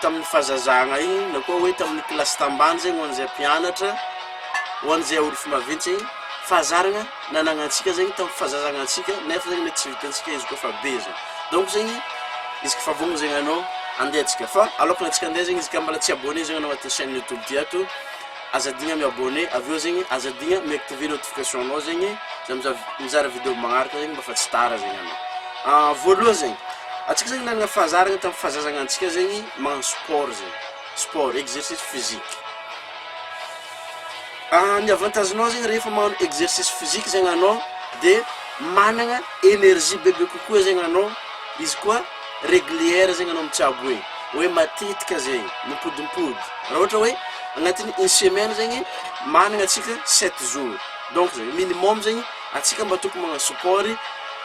tamin'ny fahazazagna igny na koa hoe tamin'ny kilasy tambany zegny ho an'izay mpianatra, ho an'izay orify maventy zegny, fahazaragna nanagnantsika zegny tamin'ny fahazazagnantsika nefa zegny mety tsy vitantsika izy koa fa be zegny. Donc zegny, izy koa fa vonona zegny anao, andeha antsika. Fa aloakan'antsika andeha zegny, izy ka mbola tsy abonné zegny anao agnatin'ny chaîne YouTube ty ato, Aza adigna mi abonner avy eo zegny aza adigna mi activer notification nao zegny za miza mizara video magnaraka zegny mba fa tsy tara zegny anao an voalohany zegny antsika zegny nagnana fahazarana tam fahazazagnantsika zegny magnano sport zegny sport exercice physique an ny avantage nao zegny rehefa magnano exercice physique zegny anao de managna energie bebe kokoa zegny anao izy koa Régulière zegny anao mitsabo hoe hoe matetika zegny, mipodimpody. Raha ohatra hoe agnatin'ny une semaine zegny managna antsika sept jours, donc zay minimum zegny antsika mba tokony magnano sport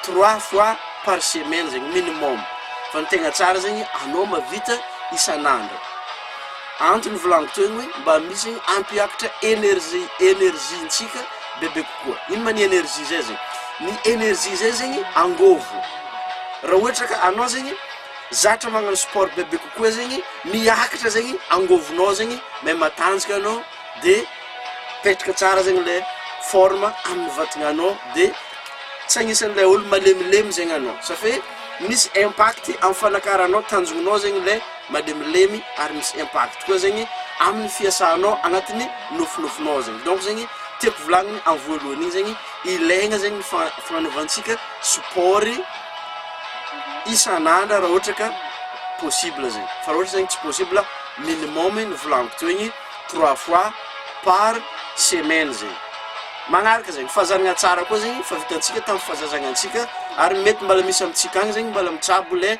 trois fois par semaine zegny minimum. Fa ny tegna tsara zegny anao mahavita isan'andro. Antony ivolanako teo igny hoe mba misy ampiakatra énergie énergie-ntsika bebe kokoa. koa ino ma ny energie zay zegny? ny energie zay zegny angôvo raha ohatra ka anao zegny zatra magnano sport bebe kokoa zegny miakatra zegny angôvonao zegny may matanjaka anao de mipetraka tsara zegny le forme amin'ny vatagnanao de tsy agnisan'le olo malemilemy zegny anao safe misy impact amin'ny fanakaranao tanjognonao zegny le. malemilemy ary misy impact koa zegny aminy fiasanao agnatiny nofinofinao zegny donc zegny tiako volagniny am voalohany igny zegny ilaigna zegny ny fa- fagnanaovantsika sport isan'andra raha ohatra ka possible zegny fa raha ohatra zegny tsy possible minimum ny volagniko teo igny trois fois par semaine zegny magnaraka zegny fahazaragna tsara koa zegny fa vitantsika tam fazazagnantsika ary mety mbala misy amitsika agny zegny mbala mitsabo le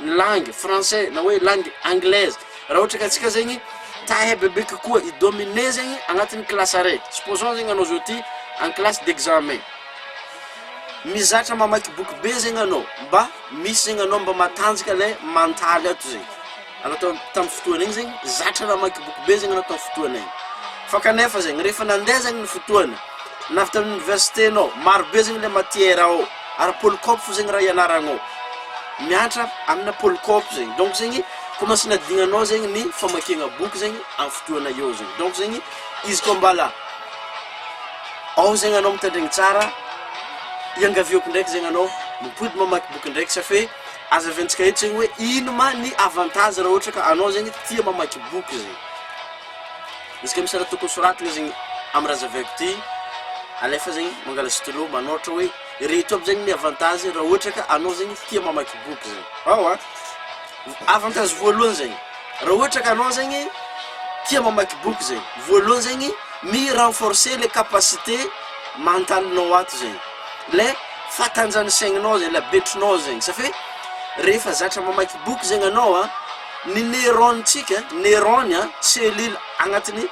ny langue français na hoe langue anglaise raha ohatra ka tsika zegny ta hebebe kokoa i domine zegny agnatin'ny classe araiky supposons zegny anao zao ty en classe d'examen mizatra mamaky boky be zegny anao mba misy zegny anao mba matanjaka le mantaly ato zegny anao tao tamin'ny fotoana igny zegny zatra namaky boky be zegny anao tao fotoana igny fa kanefa zegny rehefa nandeha zegny ny fotoana na avy tamin'ny université-nao maro be zegny le matière ao ary polycope zegny raha ianaragnao miantra amina polycope zegny donc zegny ko mba sinadignanao zegny ny famakiagna boky zegny am fotoagna eo zegny donc zegny izy koa mbala ao zegny anao mitandregny tsara iangaviako ndraiky zegny anao mipody mamaky boky ndraiky safe azaventsika eto zegny hoe ino ma ny avantage raha ohatra ka anao zegny tia mamaky boky zegny Izy ka misy raha tokony soratiny zegny am raha zaveiko ty, alefa zegny mangala stylo manoratra hoe ireto aby zegny ny avantage raha ohatra ka anao zegny tia mamaky boky zegny, ao a, avantage voalohany zegny raha ohatra ka anao zegny tia mamaky boky zegny, voalohany zegny mi renforcer le capacité mentalinao ato zegny, le fatanjahan'ny saigninao zegny, le habetrinao zegny, safe rehefa zatra mamaky boky zegny anao a. Ny neurones-tsika, neurones a, cellules agnatin'ny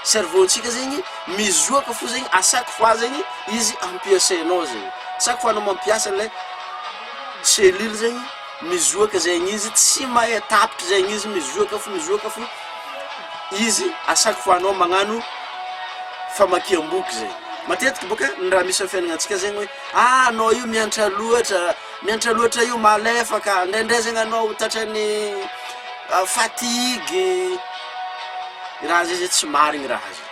cerveau-tsika zegny mizoaka fo zegny à chaque fois zegny izy ampiasainao zegny, chaque fois anao mampiasa le cellule zegny mizoaka zegny izy tsy mahay tapitra zegny izy mizoaka fo mizoaka fo izy à chaque fois anao magnano famakiam-boky zay, matetiky bôka ny raha misy am' fiaignanantsika zegny hoe ah anao io miantra loatra, Miantra loatra io malefaka, indraindray zegny anao ho tratran'ny fatigue, i raha zay zegny tsy marigny raha zay,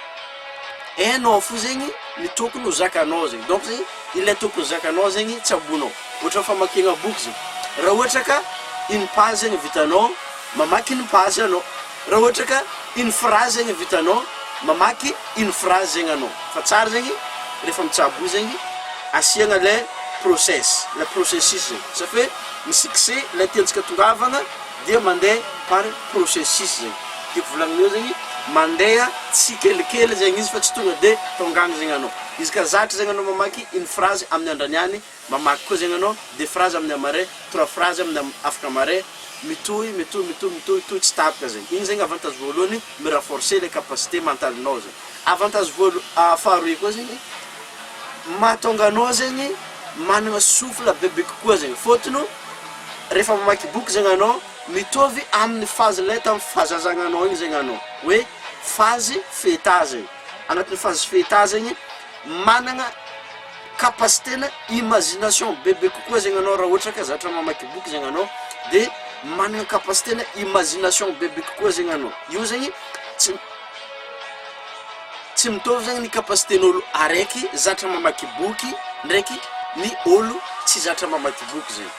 enao fo zegny ny tokony ho zakanao zegny, donc zegny ilay tokony zakanao zegny tsaboinao, ohatran'ny famakiagna boky zay, raha ohatra ka une page ny vitanao, mamaky une page anao. Raha ohatra ka une phrase zegny vitanao mamaky une phrase zegny anao fa tsara zegny rehefa mitsabo io zegny asiagna le process le processus zegny ça fait mi-succès le tiantsika tongavagna dia mande par processus zegny tiako volagny eo zegny mandeha tsikelikely zegny izy fa tsy tonga de tonga agny zegny anao izy ka zatra zegny anao mamaky une phrase amin'ny andrany any Mamaky koa zegny anao, deux phrases amin'ny hamare, trois phrases amin'ny am afaka mare, mitohy, mitohy, mitohy, mitohy, tohy tsy tapaka zegny. Igny zegny avantage voalohany, mi-renforcer le capacité mentale-nao zegny. Avantage voalo ah faharoe koa zegny, mahatonga anao zegny managna souffle bebe kokoa zegny, fôtony o rehefa mamaky boky zegny anao, mitovy amin'ny phase lay tamin'ny fahazazagnanao igny zegny anao, hoe phase feta zegny, agnatin'ny phase feta zegny managna. capacité na imagination bebe kokoa zegny anao raha ohatra ka zatra mamaky boky zegny anao de managna capacité na imagination bebe kokoa zegny anao, io zegny tsy tsy mitôvy zegny ny capacité-n'ôlo araiky zatra mamaky boky ndraiky ny ôlo tsy zatra mamaky boky zegny,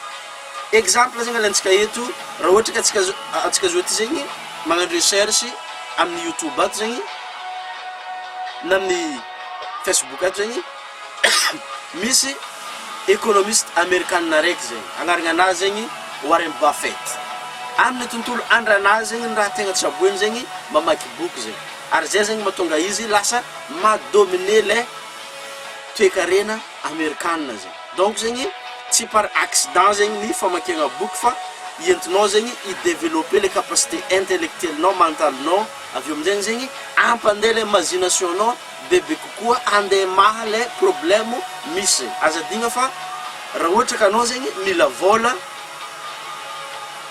exemple zegny alantsika eto raha ohatra ka antsika zao antsika zao ty zegny magnano recherche amin'ny youtube ato zegny na amin'ny facebook ato zegny. Misy ekonomista amerikanina araiky zegny, agnarananazy zegny Warren Buffett. Aminy tontolo andranazy zegny ny raha tegna tsaboigny zegny mamaky boky zegny. Ary zay zegny matonga izy lasa ma dominer le toekarena amerikanina zegny. Donc zegny tsy par accident zegny ny famakiagna boky fa entinao zegny i developper le capacité intellectuelle-nao, mental-nao, avy eo amizegny zegny ampande le imagination-nao, bebe kokoa ande maha le problème misy zay aza adino fa ra ohatra ka anao zegny mila vola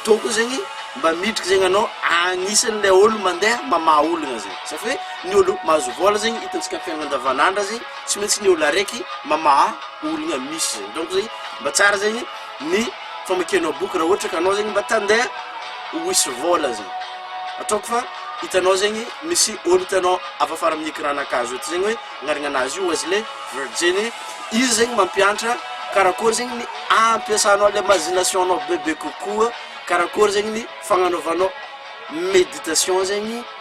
tokony zegny mba midriky zegny anao agnisany le olo mande mamaha olagna zay zay fa hoe ny olo mahazo vola zegny itantsika am fiainana andavanandra zegny tsy maintsy ny olo araiky mamaha olagna misy zay donc zegny mba tsara zegny ny famakianao boky raha ohatra ka anao zegny mba tande ho hisy vôla zegny ataoko fa hitanao zegny misy ôlo hitanao avy afara amin'ny ecran-na kajy ôhatra zegny hoe agnarana anazy io Wesley Virginie izy zegny mampiantra karakôry zegny ny ampiasanao le imagination-nao bebe kokoa karakôry zegny ny fagnanaovanao meditation zegny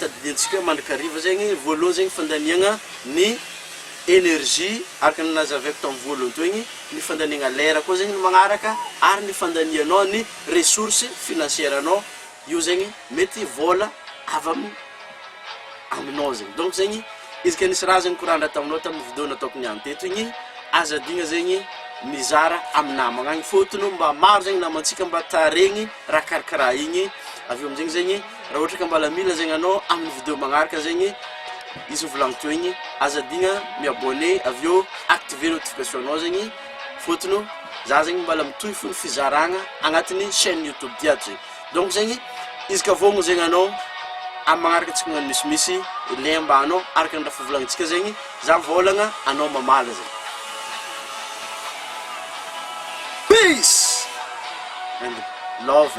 Tadidintsika mandrakariva zegny voalohany zegny fandaniagna ny energie araka ny nazavaiko tamin'ny voalohany teo igny, ny fandaniagna lera koa zegny ny magnaraka ary ny fandanianao ny ressource financière anao io zegny mety vôla avy amin'ny aminao zegny donc zegny izy ka nisy raha zegny nikorandra taminao tamin'ny video nataoko niany teto igny aza adigna zegny mizara amin'ny namagna agny fôtony mba maro zegny namantsika mba taharegny raha karakaraha igny avy eo am'zegny zegny Raha ohatra ka mbala mila zegny anao amin'ny video magnaraka zegny izy ho volagniko teo igny, aza adigna mi-abonner avy eo activer notification-nao zegny fôtony za zegny mbala mitohy fo ny fizaragna agnatin'ny chaîne YouTube ty ato zay. Donc zegny izy ka vôgno zegny anao amin'ny magnaraka antsika magnano misimisy lien mbahanao anao araka ny raha fivolantsika zegny, za mivôlagna anao mamaly zegny. Peace and love.